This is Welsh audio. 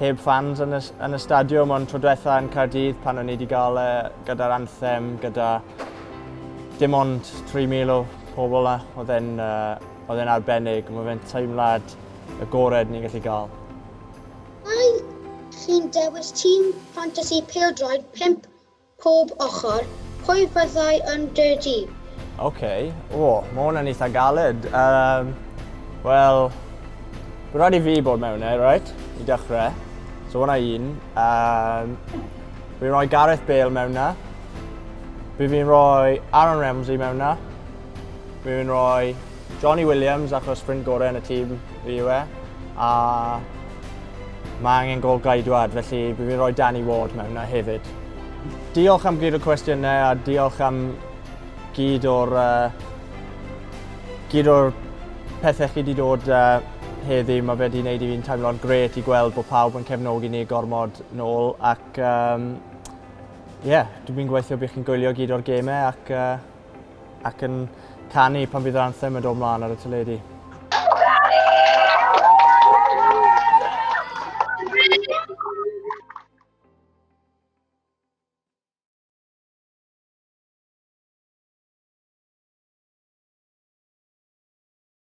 heb fans yn y, yn y stadiwm, ond tro diwetha yn Caerdydd pan o'n i wedi gael e gyda'r anthem, gyda dim ond 3,000 o pobl na, oedd e'n uh, arbennig, mae fe'n teimlad y gored ni'n gallu gael. Mae chi'n dewis tîm ffantasi pildroed 5 Pob ochr, pwy fyddai yn dy dîm? Ok, o, ma hwn yn eitha galed. Um, Wel, mae'n rhaid i fi bod mewn e, right? I dechrau. So hwnna un. Um, fi'n rhoi Gareth Bale mewn na. Fi fi'n rhoi Aaron Ramsey mewn na. Fi fi'n rhoi Jonny Williams achos ffrind gorau yn y tîm fi yw e, a mae angen gol gaedwad, felly bydd fi'n rhoi Danny Ward mewn na hefyd. Diolch am gyd o cwestiynau a diolch am gyd o'r uh, gyd o'r pethau chi wedi dod uh, heddi. Mae fe wedi gwneud i fi'n teimlo'n gret i gweld bod pawb yn cefnogi ni gormod nôl ac um, yeah, dwi'n gweithio bydd chi'n gwylio gyd o'r gemau ac uh, ac yn canu pan fydd yr anthem yn dod mlaen ar y teledu.